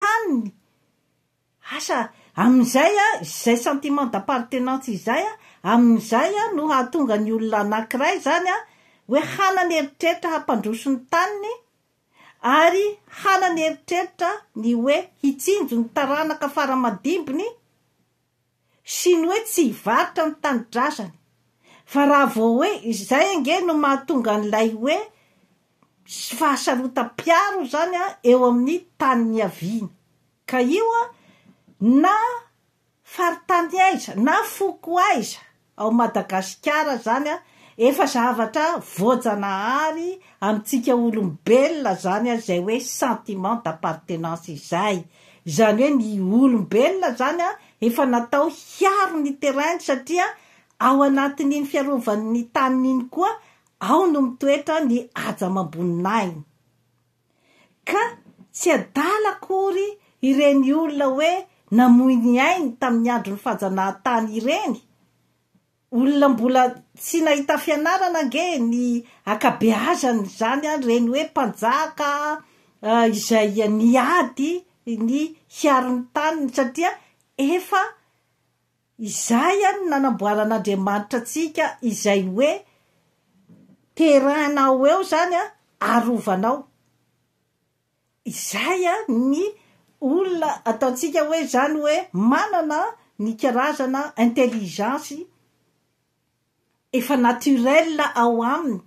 haniny, asa amin'izay a, izay sentiment d'appartenance izay a, amin'izay a, no hahatonga ny olona anankiray izany a, hoe hanany eritreritra hampandroso ny taniny, ary hanany eritreritra ny hoe hitsinjo ny taranaka fara-madimbiny, sy ny hoe tsy hivarotra ny tanindrazany fa raha vao hoe izay ange no mahatonga an'ilay hoe misy fahasarotam-piaro izany an eo amin'ny tany niaviany ka io an na faritany aiza na foko aiza Ao Madagasikara zany a, efa zavatra voajanahary amintsika olombelona zany a, zay hoe sentiment d'appartenance izay. Zany hoe ny olombelona zany a, efa natao hiaro ny terrain-ny satria ao anatin'iny fiarovan'ny taniny iny koa, ao no mitoetra ny haja amam-boninahiny. Ka tsy adala akory ireny olona hoe namoy ny ainy tamin'ny andron'ny fajanahan-tany ireny? Olona mbola tsy nahita fianarana ange ny akabeazan'izany an, ireny hoe mpanjaka izay niady ny hiaro ny taniny satria efa Izay ihany no nanamboaran'Andriamanitra antsika izay hoe terrain-nao ho eo izany arovanao. Izay ny olona ataontsika hoe izany hoe manana ny karazana intelligence efa naturel ao aminy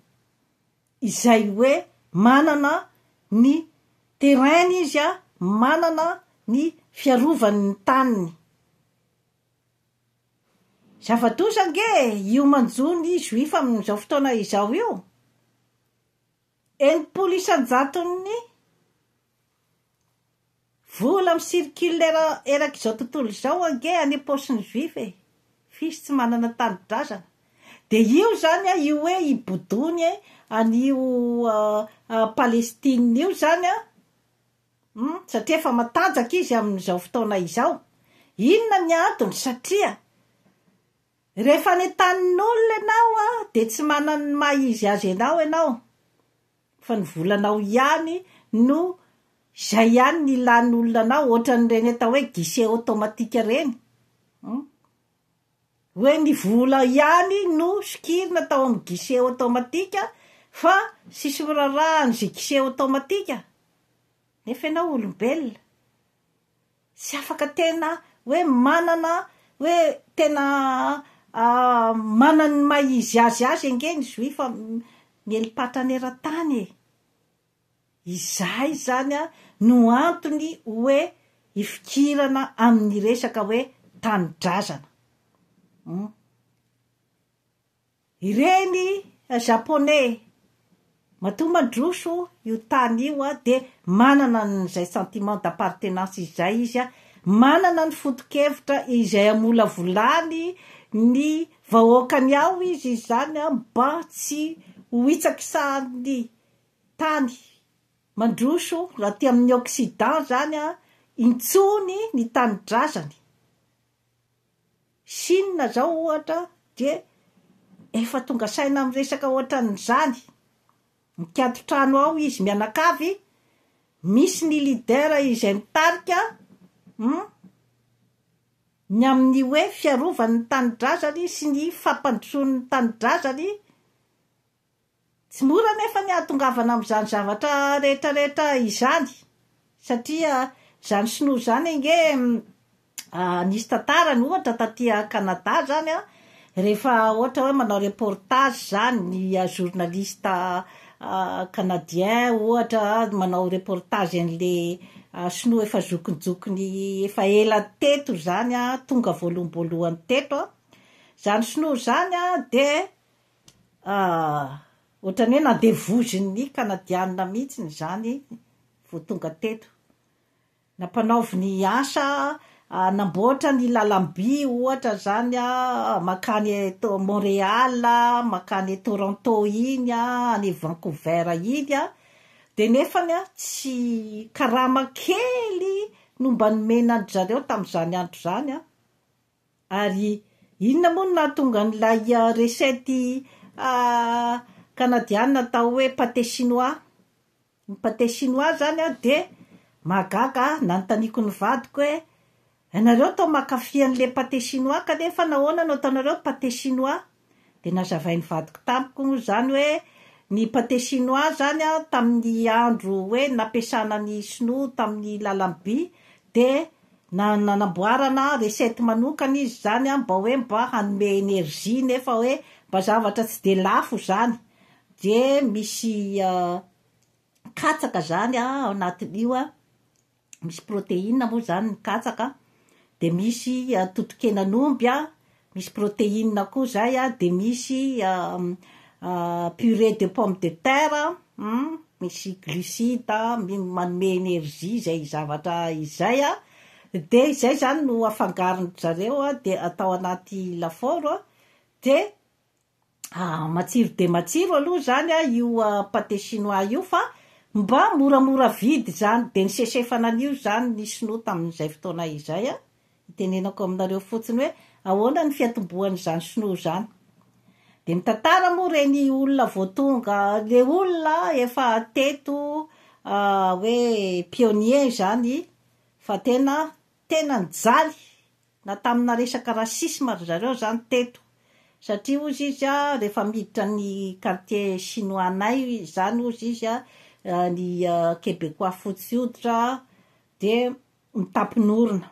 izay hoe manana ny terrain-ny izy a, manana ny fiarovany ny taniny. Zava-doza ange io manjo ny juif amin'izao fotoana izao io, enimpolo isan-jaton'ny. Vola mi-circule erak' izao tontolo izao ange any am-paosin'ny juif e! f'isy tsy manana tanindrazana, dia io izany an, io hoe i Boudouny e, an'io Palestine io izany an, hum, satria efa matanjaka izy amin'izao fotoana izao, inona ny antony? satria rehefa any an-tanin'olona ianao an, dia tsy manana ny maha-izy azy anao ianao, Fa ny volanao ihany no izay ihany no ilan'ny olona anao ohatran'ireny atao hoe guichet automatique ireny hum hoe ny vola ihany no sokirina atao amin'ny guichet automatique fa tsisy miraharaha an'izay guichet automatique nefa ianao olombelona Tsy afaka tena hoe manana hoe tena manana ny maha izy azy azy ange ny Zoifa miely patrana eran-tany e! Izay izany no antony hoe ifikirana amin'ny resaka hoe tanindrazana. Humm. Ireny Japonais matoa mandroso io tany io dia manana an'izay sentiment d'appartenance izay izy, manana ny foto-kevitra izay hamolavolany ny vahoakany ao izy izany mba tsy ho hitsakisahan'ny tany mandroso aty amin'ny occident izany intsony ny tanindrazany. Chine zao ohatra dia efa tonga saina amin'ny resaka ohatran'izany, mikatso trano ao izy mianakavy, misy ny leader izay mitarika hum ny amin'ny hoe fiarovany ny tanindrazany sy ny fampandrosoany ny tanindrazany Tsy mora anefa ny hahatongavana amin'izany zavatra rehetrarehetra izany satria izany sinoa izany ange nisy tantarany ohatra taty Canada izany an, rehefa ohatra hoe manao reportage izany ny journaliste canadien ohatra manao reportage an'ilay sinoa efa zokinjokiny efa ela teto izany an, tonga voaloham-boalohany teto an, izany sinoa izany an dia Ah! Ohatran'ny hoe nandevozin'ny Kanadianina mihitsiny izany vao tonga teto. Nampanaovy ny asa, hanamboatra ny lalam-by ohatra izany mankany eto Montréal, mankany Toronto iny, any Vancouver iny, dia nefany tsy, karama kely no mba nomena an-dry zareo tamin'izany andro izany, Ary inona moa no nahatonga an'ilay recette kanadiana atao hoe pate chinois? Ny pate chinois izany an dia mahagaga ahy, nanontaniako ny vadiko hoe ianareo tao mankafy an'ilay pate chinois kanefa nahoana no ataonareo pate chinois? Dia nazavain'ny vadiko tamiko moa izany hoe ny pate chinois izany an, tamin'ny andro hoe nampiasana ny sinoa tamin'ny lalan'ny by dia nanamboarana recette manokana izy izany an, mba hoe mba hanome energie nefa hoe mba zavatra tsy dia lafo izany, dia misy katsaka izany an ao anatin'io an, misy protéine moa zany ny katsaka a, de misy totokenan'omby a, misy protéine koa zay a, de misy purée de pomme de terre an, misy glucides manome énergie zay zavatra izay a, de izay zany no afangaron-dry zareo a, de atao anaty lafaoro a, de Matsiro dia matsiro aloha izany io pate chinois io fa mba moramora vidy izany dia nisesefana an'io izany ny sinoa tamin'izay fotoana izay an! itenenako aminareo fotsiny hoe ahoana ny fiatombohan'izany sinoa izany dia mitantara moa ireny olona vao tonga le olona efa teto hoe pionnier izany fa tena tena nijaly Na tamina resaka racisme ry zareo zany teto satria hozy izy a rehefa miditra ny quartier chinois-nay zany hozy izy a ny quebecois fotsy hoditra de mitampin'orona.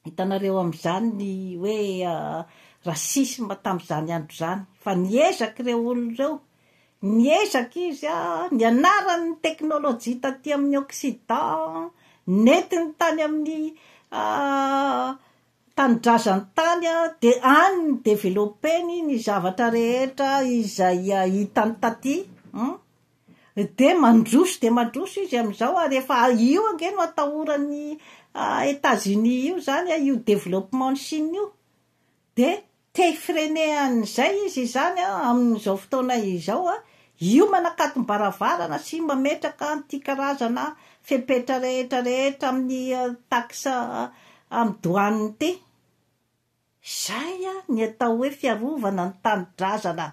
Hitanareo amizany ny hoe racisme tamizany andro zany fa niezaka ireo olona ireo. Niezaka izy nianarany ny teknolojia taty amin'ny Occident, nentiny tany amin'ny tanindrazan-tany dia any no ni-developper-ny ny zavatra rehetra izay hitany taty, dia mandroso dia mandroso izy amin'izao ary efa io ange no atahoran'i Etats-Unis io izany io développement-n'i Chine io, Dia te hi-freiner an'izay izy izany amin'izao fotoana izao, io manakatom-baravarana sy mametraka an'ity karazana fepetra rehetra rehetra amin'ny taxe amin'ny douane ity. Izay ny atao hoe fiarovana ny tanindrazana.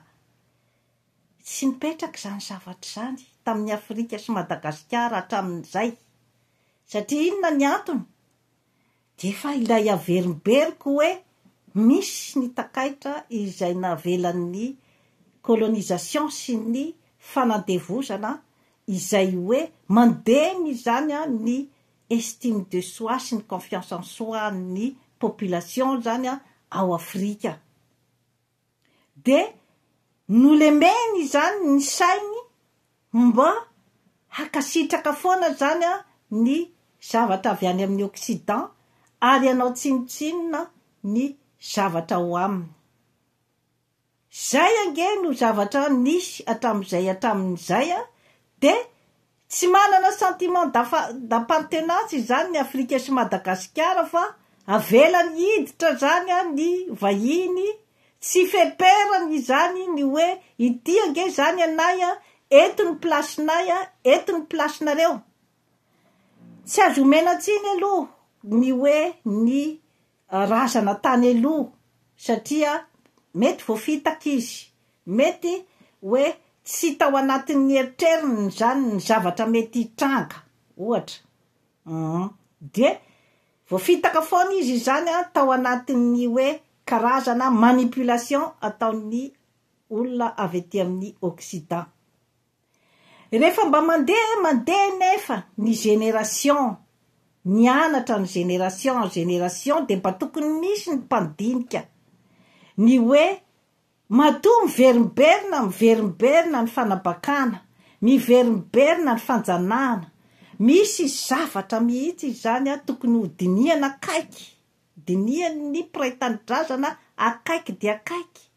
Tsy nipetraka izany zavatra izany tamin'i Afrika sy Madagasikara hatramin'izay. Satria inona ny antony? Efa ilay averimberiko hoe misy ny takaitra izay navelan'ny colonisation sy ny fanandevozana izay hoe mandemy izany ny estime de soi sy ny confiance en soi an'ny population zany ao Afrika. dia nolemeny izany ny sainy mba hankasitraka foana izany ny zavatra avy any amin'ny occident ary hanao tsinontsinona ny zavatra ao aminy. Izay ange no zavatra nisy hatramin'izay hatramin'izay dia Tsy manana sentiment d'appartenance izany ny Afrika sy Madagasikara fa avelany hiditra zany ny vahiny, tsy feperany izany ny hoe ity ange izany anay a, eto ny place-nay a, eto ny place-nareo. Tsy azo omena tsiny aloha ny hoe ny Razana tany aloha satria mety voafitaka izy, mety hoe tsy tao anatin'ny eritreriny izany ny zavatra mety hitranga ohatra uhm dia voafitaka foana izy izany an tao anatin'ny hoe karazana manipulation ataon'ny olona avy ety amin'ny occident. Rehefa mba mandeha mandeha nefa ny génération mianatra ny génération en génération dia mba tokony misy ny mpandinika ny hoe matoa miverimberina miverimberina ny fanabakana, miverimberina ny fanjanahana, misy zavatra mihitsy izany a tokony ho dinihana akaiky, dinihan'ny mpiray tanindrazana akaiky dia akaiky.